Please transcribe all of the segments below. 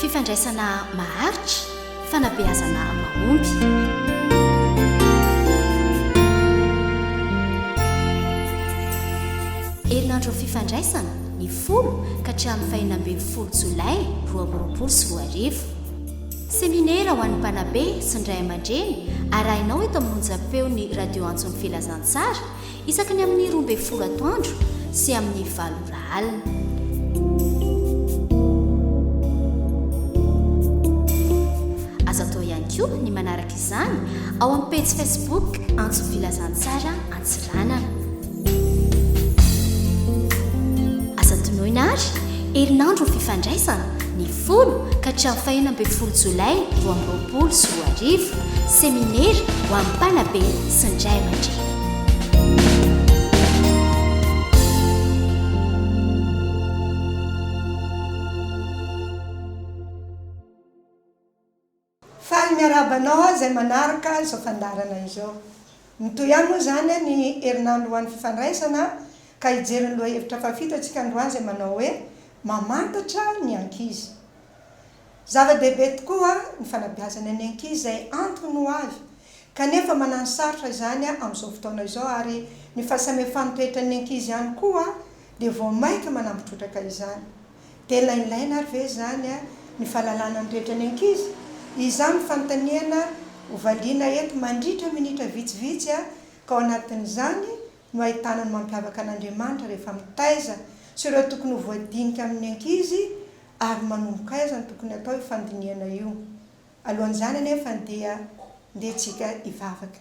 Fifandraisana maharitra, fanabeazana mahomby. herinandro fifandraisana ny folo ka hatramin'ny fahina ambin'ny folo jolay roa amby roapolo sy roa arivo seminera ho an'ny mpanabe sy ny ray aman-dreny arahinao eto amin'ny onjam-peon'ny radio antson'ny filazantsara Isaky ny amin'ny roa ambin'ny folo atoandro sy amin'ny valo ora alina. Azo atao ihany koa ny manaraka izany ao amin'ny pejy Facebook Antso Filazantsara Antsiranana. Aza tonoina ary herinandro fifandraisana ny folo ka hatramin'ny fahena ambin'ny folo jolay roa amby roapolo sy roa arivo, seminera ho an'ny mpanabe sy ny ray aman-dreny. Faly miarahaba anao aho izay manaraka izao fandaharana izao. Mitohy ihany moa izany ny herinandro ho an'ny fifandraisana ka hijery ny lohahevitra fahafito antsika androany izay manao hoe Mamantatra ny ankizy. Zava-dehibe tokoa ny fanabeazana ny ankizy izay antony ho avy kanefa manano sarotra izany amin'izao fotoana izao ary ny fahasamihafàn'ny toetran'ny ankizy ihany koa dia vao mainka manambo trotraka izany. Tena ilaina ary ve izany ny fahalalana ny toetra ny ankizy? Izany no fanontaniana ho valiana eto mandritra minitra vitsivitsy ka ao anatin'izany no ahitana ny mampiavaka an'Andriamanitra rehefa mitaiza sy ireo tokony ho voadinika amin'ny ankizy ary manomboka aiza no tokony hatao io fandinihana io. Alohan'izany anefa dia ndeha tsika hivavaka.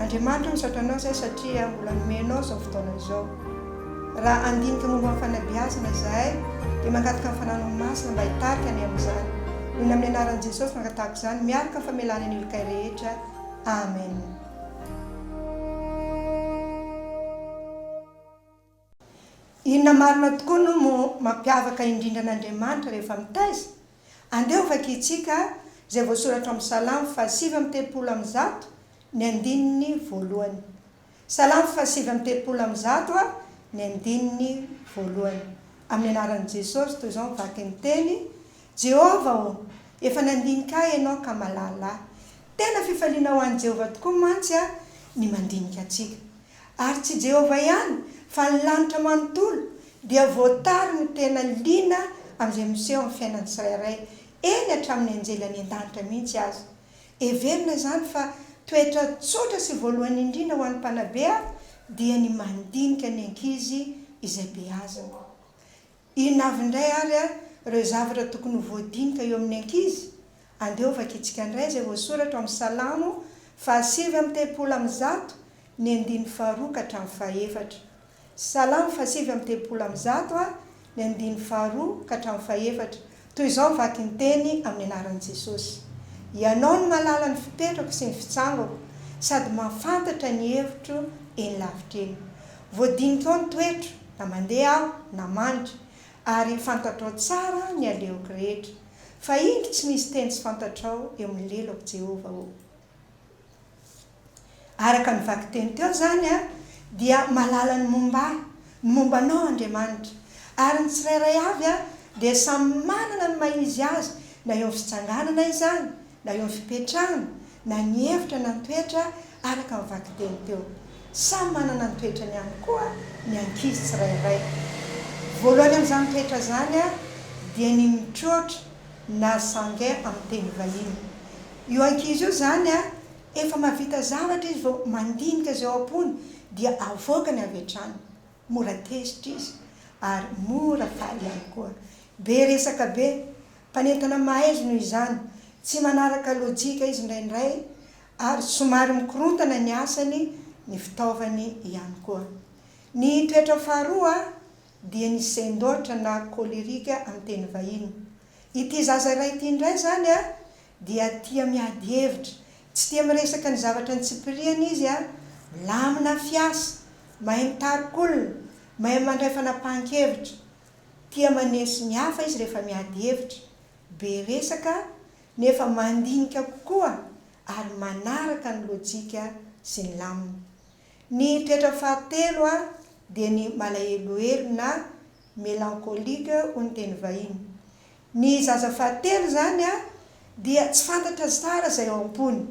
Andriamanitra ny Satanao izay satria mbola nomenao izao fotoana izao. Raha handinika momba ny fanabeazana izahay dia mangataka ny Fananao Masina mba hitarika anay amin'izany. Eny amin'ny anaran'i Jesosy no angatahako izany miaraka amin'ny famelana ny olon-kay rehetra. Amen. Inona marina tokoa no mampiavaka indrindra an'Andriamanitra rehefa mitaiza? Andeha ho vakintsika izay voasoratra ao amin'ny Salamo fahasivy amby telopolo amby zato ny andininy voalohany. Salamo fahasivy amby telopolo amby zato a ny andininy voalohany. Amin'ny anaran'i Jesosy, toy izao ny vakin'ny teny, Jehovah ô, efa nandinika ahy ianao ka malala ahy. Tena fifaliana ho an'i Jehovah tokoa mantsy ny mandinika antsika. Ary tsy Jehovah ihany, fa ny lanitra manontolo dia voatary ny tena liana amin'izay miseho amin'ny fiainan'ny tsirairay, eny hatramin'ny anjely any an-danitra mihitsy aza. Heverina izany fa toetra tsotra sy voalohany indrindra ho an'ny mpanabe dia ny mandinika ny ankizy izay beazina. Inona avy indray ary ireo zavatra tokony ho voadinika eo amin'ny ankizy? Andeha hovakintsika indray izay voasoratra ao amin'ny Salamo fahasivy amby telopolo amby zato, ny andininy faharoa ka hatramin'ny fahefatra. Salamo fahasivy amby telopolo amby zato, ny andininy faharoa ka hatramin'ny fahefatra. Toy izao ny vakin-teny amin'ny anaran'i Jesosy, Ianao no mahalala ny fipetrako sy ny fitsangako, sady mahafantatra ny hevitro eny lavitra eny. Voadinitrao ny toetro, na mandeha aho, na mandry, ary fantatrao tsara ny alehako rehetra. Fa indro tsy misy teny tsy fantatrao eo amin'ny lelako, Jehovah ô. Araka ny vakiteny teo izany dia mahalala ny momba ahy, ny momba anao Andriamanitra. Ary ny tsirairay avy dia samy manana ny maha izy azy, na eo amin'ny fitsanganana izany, na eo amin'ny fipetrahana, na ny hevitra na ny toetra araka ny vakiteny teo. Samy manana ny toetrany ihany koa ny ankizy tsirairay. Voalohany amin'izany toetra izany dia ny mitroatra na sange amin'ny teny vahiny. Io ankizy io izany. Efa mahavita zavatra izy vao mandinika izay ao am-pony dia avoakany avy hatrany. Mora tezitra izy ary mora faly ihany koa. Be resaka be. Mpanentana mahaizy noho izany. Tsy manaraka lojika izy indraindray ary somary mikorontana ny asany, ny fitaovany ihany koa. Ny toetra faharoa dia ny sendoatra na colerique amin'ny teny vahiny. Ity zaza iray ity indray izany dia tia miady hevitra, tsy tia miresaka ny zavatra antsipiriany izy a, milamina fiasa, mahay mitarika olona, mahay mandray fanapahan-kevitra, tia maneso ny hafa izy rehefa miady hevitra, be resaka nefa mandinika kokoa ary manaraka ny lojika sy ny lamina. Ny toetra fahatelo a dia ny malahelohelo na. mélancolique hoy ny teny vahiny. Ny zaza fahatelo izany dia tsy fantatra tsara izay ao am-pony.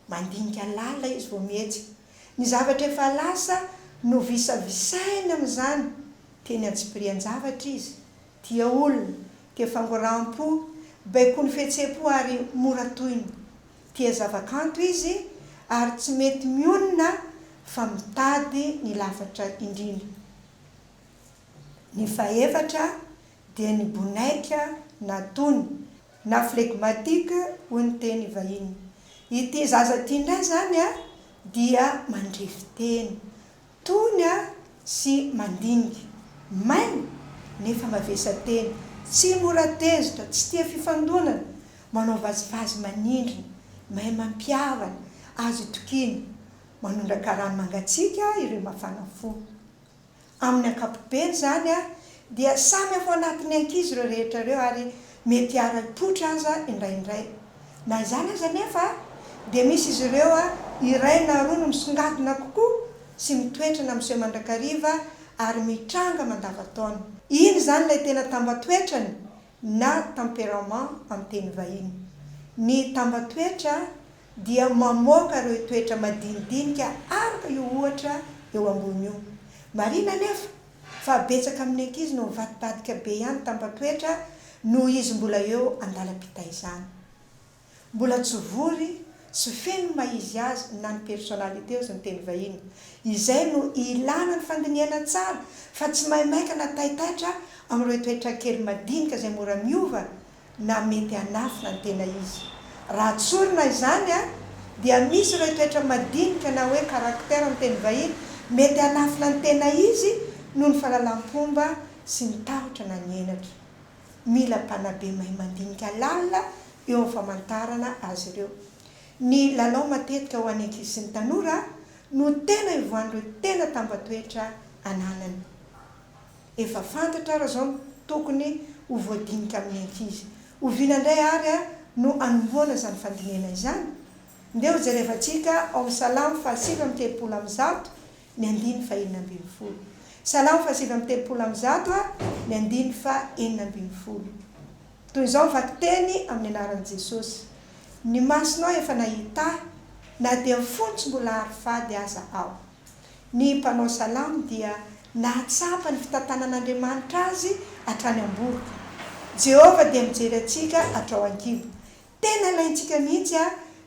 Mandinika lalina izy vao mihetsika. Ny zavatra efa lasa no visavisainy amin'izany. Teny antsipirian-javatra izy. Tia olona, tia fangoram-po, baikoin'ny fihetseham-po ary mora tohina. Tia zavakanto izy ary tsy mety mionona fa mitady ny lafatra indrindra. Ny fahefatra dia ny bonaika na tony, na flegmatique hoy ny teny vahiny. Ity zaza ity indray izany dia mandrefy teny, tony sy mandinika, maina nefa mavesa-teny, tsy mora tezitra, tsy tia fifandonana, manao vazivazy manindrona, mahay mampihavana, azo itokiana. Manondraka rano mangatsiaka ireo mafana fo. Amin'ny ankapobeny izany dia samy ao anatin'ny ankizy ireo rehetra ireo ary mety hiara-hipoitra aza indraindray. Na izany aza anefa dia misy izy ireo iray na roa no misongadina kokoa sy mitoetra na miseho mandrakariva ary mitranga mandavan-taona. Iny izany ilay tena tambatoetrany na tempérament amin'ny teny vahiny. Ny tambatoetra dia mamoaka ireo toetra madinidinika araka io ohatra eo ambony io. Marina anefa fa betsaka amin'ny ankizy no mivadibadika be ihany tamban-toetra noho izy mbola eo an-dalam-pitaizana. Mbola tsy vory sy feno ny maha izy azy na ny personnalité ozy ny teny vahiny. Izay no ilana ny fandinihana tsara fa tsy maimaika na taitaitra amin'ireo toetra kely madinika izay mora miova na mety hanafina ny tena izy. Raha tsorina izany dia misy ireo toetra madinika na hoe caractère amin'ny teny vahiny mety hanafina ny tena izy noho ny fahalalam-pomba sy ny tahotra na ny henatra. Mila mpanabe mahay mandinika lalina eo amin'ny famantarana azy ireo. Ny lalao matetika ho an'ny ankizy sy ny tanora no tena ivoahan'ireo tena tambatoetra ananany. Efa fantatra ary zao ny tokony ho voadinika amin'ny ankizy. Oviana indray ary no anombohana izany fandinihana izany? Ndeha ho jerevantsika ao Salamo fahasivy amby telopolo amby zato ny andiny fahenina ambin'ny folo. Salamo fahasivy amby telopolo amby zato ny andiny fahenina ambin'ny folo. Toy izao ny vakiteny amin'ny anaran'i Jesosy, Ny masonao efa nahita ahy, na dia ny fony tsy mbola hary fady aza aho. Ny mpanao salamo dia nahatsapa ny fitantanan'Andriamanitra azy hatrany am-boroka. Jehovah dia mijery antsika hatrao an-kibo. Tena ilaintsika mihitsy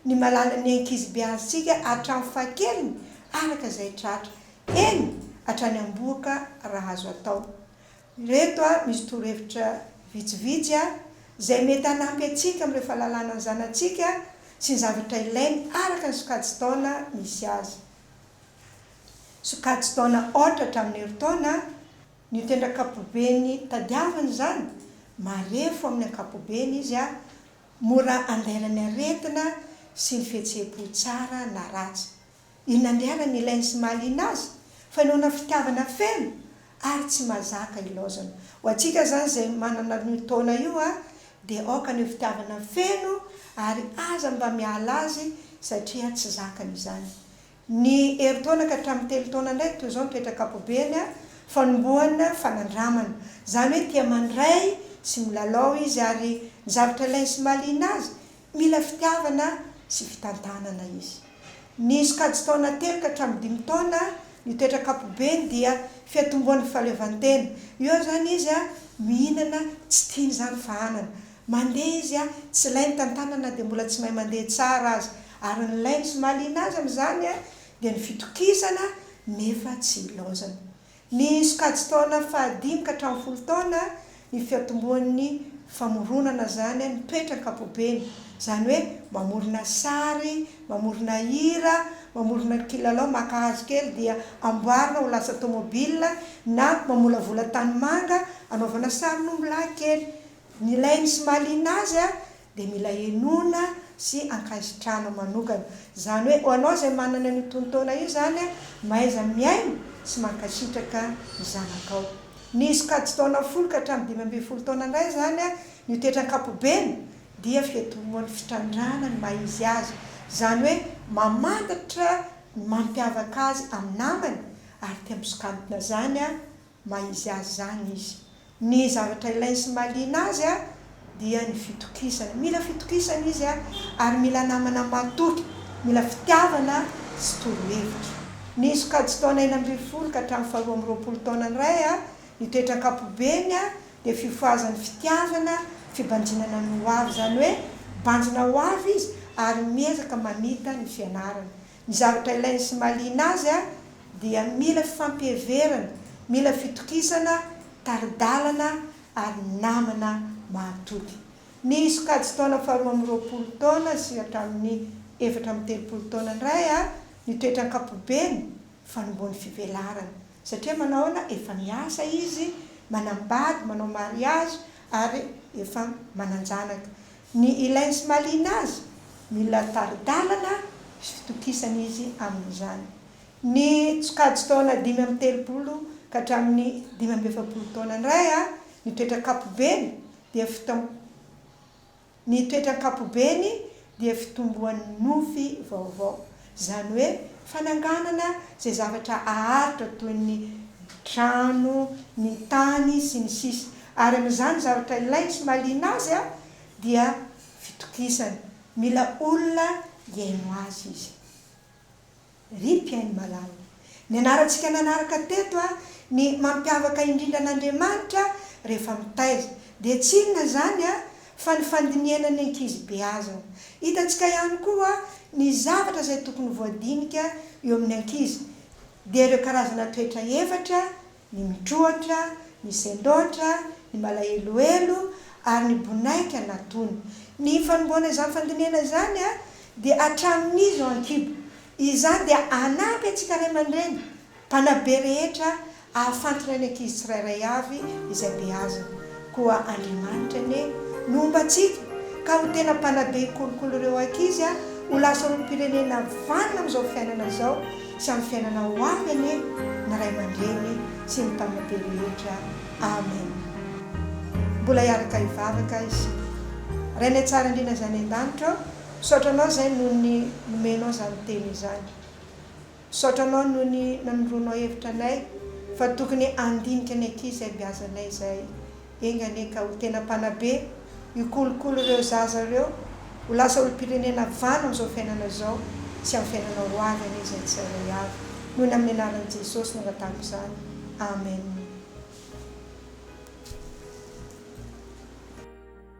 ny mahalala ny ankizibe antsika hatramin'ny fahakeliny araka izay tratra, eny, hatrany am-boroka raha azo atao. Ireto misy torohevitra vitsivitsy izay mety hanampy antsika amin'ireo fahalalana ny zanatsika sy ny zavatra ilainy araka ny sokajin-taona misy azy. Sokajin-taona aotra hatramin'ny herintaona ny tendran-kapoben'ny tadiavina izany, marefo amin'ny ankapobeny izy, mora andairan'ny aretina sy ny fihetseham-po tsara na ratsy. Inona andianany ilainy sy mahaliana azy? Fanehoana fitiavana feno ary tsy mazaka ilaozana. Ho antsika izany izay manana an'io taona io dia aoka ny ho fitiavana feno ary aza mba miala azy satria tsy zakany izany. Ny herintaona ka hatramin'ny telo taona indray toy izao ny toetra ankapobeny fanombohana fanandramana. Izany hoe tia mandray sy milalao izy ary ny zavatra ilainy sy mahaliana azy Mila fitiavana sy fitantanana izy. Ny sokajy taona telo ka hatramin'ny dimy taona, ny toetra ankapobeny dia fiatombohan'ny fahaleovantena. Eo izany izy mihinana tsy tiany izany fahanana. Mandeha izy tsy ilay mitantana na dia mbola tsy mahay mandeha tsara aza. Ary ny lainy sy mahaliana azy amin'izany dia ny fitokisana nefa tsy ilaozana. Ny sokajin-taona fahadimy ka hatramin'ny folo taona ny fiantombohan'ny famoronana izany ny toetra ankapobeny, izany hoe mamorona sary, mamorona hira, mamorona ny kilalao maka hazo kely dia amboarina ho lasa tomobila na mamolavola tanimanga anaovana sarin'ombilahy kely. Nilainy sy mahaliana azy dia mila henoina sy ankasitrahana manokana. Izany hoe ho anao izay manana an'io tonon-taona io izany a, mahaiza mihaino sy mankasitraka ny zanakao. Ny sokajy taona folo ka hatramin'ny dimy ambin'ny folo taona indray izany a, ny ho tetra ankapobeny dia fiantombohan'ny fitrandrahana ny maha izy azy. Izany hoe mamantatra ny mampiavaka azy amin'ny namany ary te hampisokantona izany a Maha izy azy izany izy. Ny zavatra ilainy sy mahaliana azy dia ny fitokisana. Mila fitokisana izy ary mila namana matoky. Mila fitiavana sy torohevitra. Ny sokajy taona enina ambin'ny folo ka hatramin'ny faharoa amby roapolo taona ny ray, ny toetra ankapobeny dia fifohazan'ny fitiavana, fibanjinana ny ho avy. Izany hoe banjina ho avy izy ary miezaka mamita ny fianarana. Ny zavatra ilainy sy mahaliana azy dia mila fifampiheverana, mila fitokisana, tari-dalana ary namana mahatody. Ny sokajin-taona faharoa amby roapolo taona sy hatramin'ny efatra amby telopolo taona indray ny toetra ankapobeny, fanombohan'ny fivelarana. Satria manao ahoana? Efa miasa izy, manambady, manao mariazy ary efa manan-janaka. Ny ilain'i Smalina aza, mila tari-dalana sy fitokisana izy amin'izany. Ny tsokajy taona dimy amby telopolo ka hatramin'ny dimy amby efapolo taona indray a, ny toetra ankapobeny dia fitom, ny toetra ankapobeny dia fitomboan'ny nofy vaovao. Izany hoe fananganana izay zavatra aharitra toy ny trano, ny tany, sy ny sisa Ary amin'izany zavatra ilainy sy mahaliana azy dia fitokisana. Mila olona hihaino azy izy. Rip an'i Malala. Nianarantsika nanaraka teto a, ny mampiavaka indrindra an'Andriamanitra rehefa mitaiza, dia tsy inona izany a, fa ny fandinihana ny ankizy beazina. Hitantsika ihany koa ny zavatra izay tokony ho voadinika eo amin'ny ankizy, dia ireo karazana toetra efatra ny mitroatra, ny sendoatra, ny malahelohelo ary ny bonaika na tony. Ny fanomboana izany fandinihana izany dia hatramin'iza ao an-kibo. Izany dia hanampy antsika ray aman-dreny mpanabe rehetra hahafantra ny ankizy tsirairay avy izay beazina. Koa Andriamanitra anie no homba antsika ka ho tena mpanabe hikolokolo ireo ankizy ho lasa olom-pirenena vanona amin'izao fiainana izao. sy amin'ny fiainana ho avy anie ny ray aman-dreny sy ny mpanabe rehetra amen mbola hiaraka hivavaka izy rainay tsara indrindra zay any an-danitra ô misaotra anao zay noho ny nomenao zany teny izany misaotra anao noho ny nanondroanao hevitra anay fa tokony handinika ny aty zay biazanay zay Enga anie ka ho tena mpanabe hikolokolo ireo zaza ireo ho lasa olom-pirenena vano amin'izao fiainana izao sy amin'ny fiainana ho avy anie izay tsirairay avy noho ny amin'ny anaran'i Jesosy nangatahako izany Amen.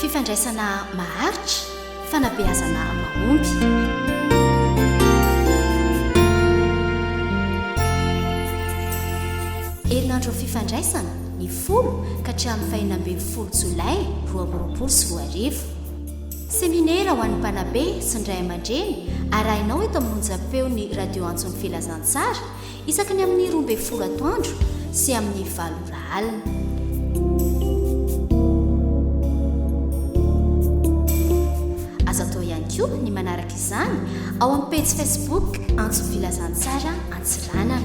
Fifandraisana maharitra, fanabeazana mahomby. herinandro fifandraisana ny folo ka hatramin'ny fahina ambin'ny folo jolay roa amby roapolo sy roa arivo. Seminera ho an'ny mpanabe sy ny ray aman-dreny arahinao eto amin'ny onjam-peon'ny radio antson'ny filazantsara Isaky ny amin'ny roa ambin'ny folo atoandro sy amin'ny valo ora alina. Azo atao ihany koa ny manaraka izany ao amin'ny pejy Facebook Antso Filazantsara Antsiranana.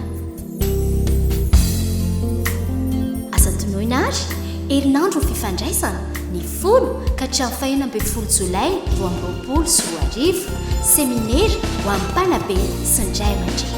Aza tonoina ary herinandro fifandraisana folo ka hatramin'ny fahena ambin'ny folo jolay roa amby roapolo sy roa arivo, seminera ho an'ny mpanabe sy ny ray aman-dreny.